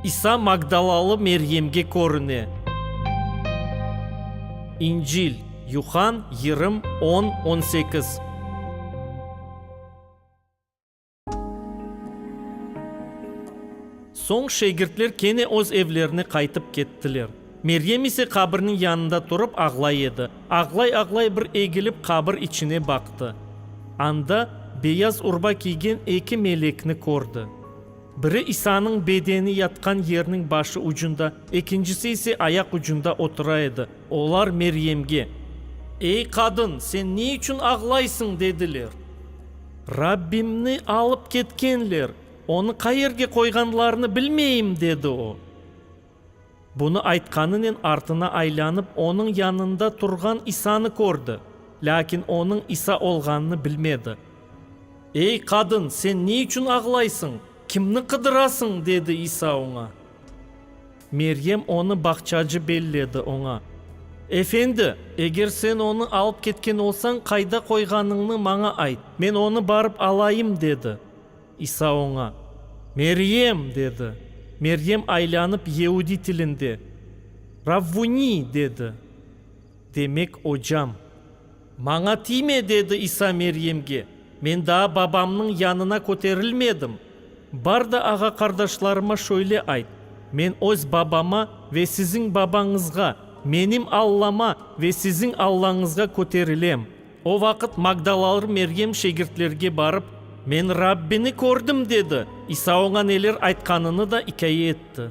İsa Magdalalı Meryemge körüne. İncil, Yuhann, yirım, on, on sekiz. Soñ şegirtler kene öz evlerine qaytıp kettiler. Meryem ise qabirniñ yanında turıp ağlay edi. Ağlay-ağlay bir egilip qabir içine baqtı. Anda beyaz urba kiygen eki melekni kördi. Biri İsanıñ bedeni yatqan yerniñ başı ucunda, ekincisi ise ayaq ucunda otura edi. Olar Meryemge, Ey qadın, sen ne içün ağlaysıñ? dediler. Rabbimni alıp ketkenler, onı qayerge qoyğanlarını bilmeyim, dedi o. Bunı aytqanınen artına aylanıp, onıñ yanında turğan İsanı kördi, lâkin onıñ İsa olğanını bilmedi. Ey, qadın, sen ne içün ağlaysıñ? Kimni qıdırasıñ? dedi İsa oña. Meryem onı bağçacı belli edi, oña, Efendi, eger sen onı alıp ketken olsañ, qayda qoyğanıñnı maña ayt, men onı barıp alayım, dedi. İsa oña, Meryem! dedi. Meryem aylanıp yeudiy tilinde, Ravvuni! dedi, demek, Ocam. Maña tiyme! dedi İsa Meryemge, men daa Babamnıñ yanına köterilmedim. Bar da ağa-qardaşlarıma şöyle ayt, Men öz Babama ve siziñ Babañızğa, menim Allama ve siziñ Allañızğa köterilem. O vaqıt magdalalı Meryem şegirtlerge barıp, Men Rabbini kördim! dedi. İsa oña neler aytqanını da ikâye etti.